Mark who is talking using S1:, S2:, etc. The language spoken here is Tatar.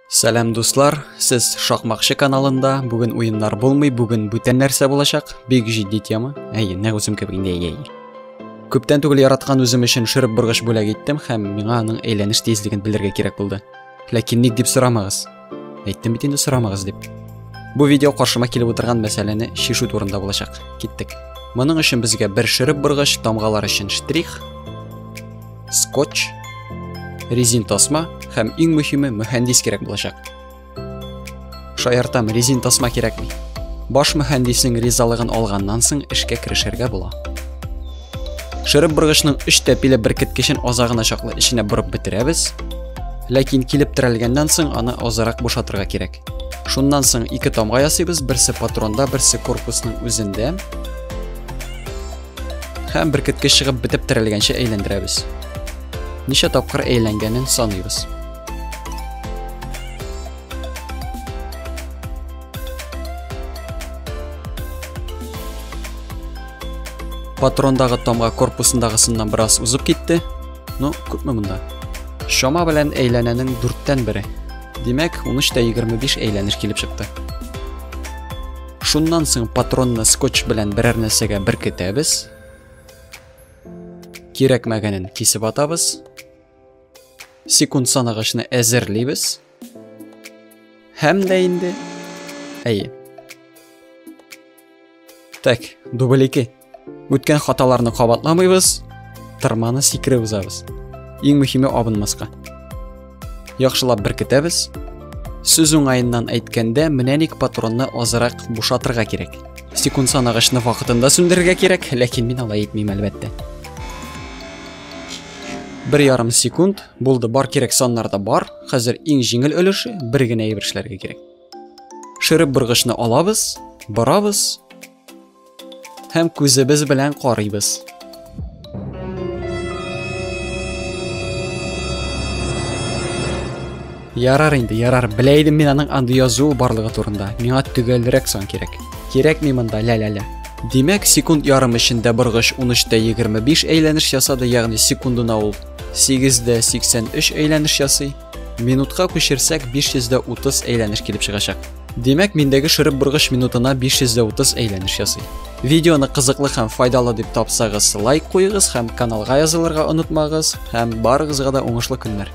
S1: Сәлам дуслар, сез Шакмакчы каналында. Бүген уеннар булмый, бүген бүтән нәрсә булачак. Бик җитди тема. Әйе, нәкъ үзем кебек инде әйе. Күптән түгел яраткан үзем өчен шөреп боргыч бүләк иттем һәм миңа аның әйләнеш тизлеген белергә кирәк булды. Ләкин ник дип сорамагыз. Әйттем бит инде сорамагыз дип. Бу видео каршыма килеп утырган мәсьәләне шишу турында булачак. Киттек. Моның өчен безгә бер шөреп боргыч, тамгалар өчен штрих, скотч, резин тасма һәм иң мөһиме мөхәндис кирәк булачак. Шаяртам, резин тасма кирәкми. Баш мөхәндиснең ризалыгын алганнан соң эшкә керешергә була. Шырып боргычның өч тәпиле беркеткечен азагына чаклы эченә борып бетерәбез. Ләкин килеп терәлгәннән соң аны азрак бушатырга кирәк. Шуннан соң ике тамга ясыйбыз, берсе патронда, берсе корпусның үзендә. Һәм беркеткеч чыгып бетеп терелгәнче әйләндерәбез. Ничә тапкыр әйләнгәнен саныйбыз. Патрондагы тамга корпусындагысыннан бераз узып китте. Ну, күпме монда? Шома белән әйләнәнең дүрттән бере. Димәк, 13 тә 25 әйләнеш килеп чыкты. Шуннан соң патронны скотч белән берәр нәрсәгә беркетәбез. Кирәкмәгәнен кисеп атабыз. Секунд санагычны әзерлибез. Һәм дә инде. Әйе. Так, дубль 2. үткән хаталарны кабатламыйбыз тырманы сикереп узабыз иң мөһиме абынмаска яхшылап беркетәбез сүз уңаеннан әйткәндә менә ник патронны азрак бушатырга кирәк секунд санагычны вакытында сүндерергә кирәк ләкин мин алай итмим әлбәттә бер ярым секунд булды бар кирәк саннарда бар хәзер иң җиңел өлеше бер генә әйбер эшләргә кирәк шырып быргычны алабыз барабыз Һәм күзебез белән карыйбыз. Ярар инде, ярар. Белә идем мин аның андый язуы барлыгы турында. Миңа төгәлрәк сан кирәк. Кирәкми монда лә-лә-лә. Димәк, секунд ярым эчендә боргыч 13-тә 25 әйләнеш ясады, ягъни секундына ул 8-дә 83 әйләнеш ясый. Минутка күчерсәк 530 әйләнеш килеп чыгачак. Димәк, миндәге шырып бургыч минутына 530 әйләнеш ясый. Видеоны кызыклы һәм файдалы дип тапсагыз, лайк куегыз һәм каналга язылырга онытмагыз һәм барыгызга да уңышлы көннәр.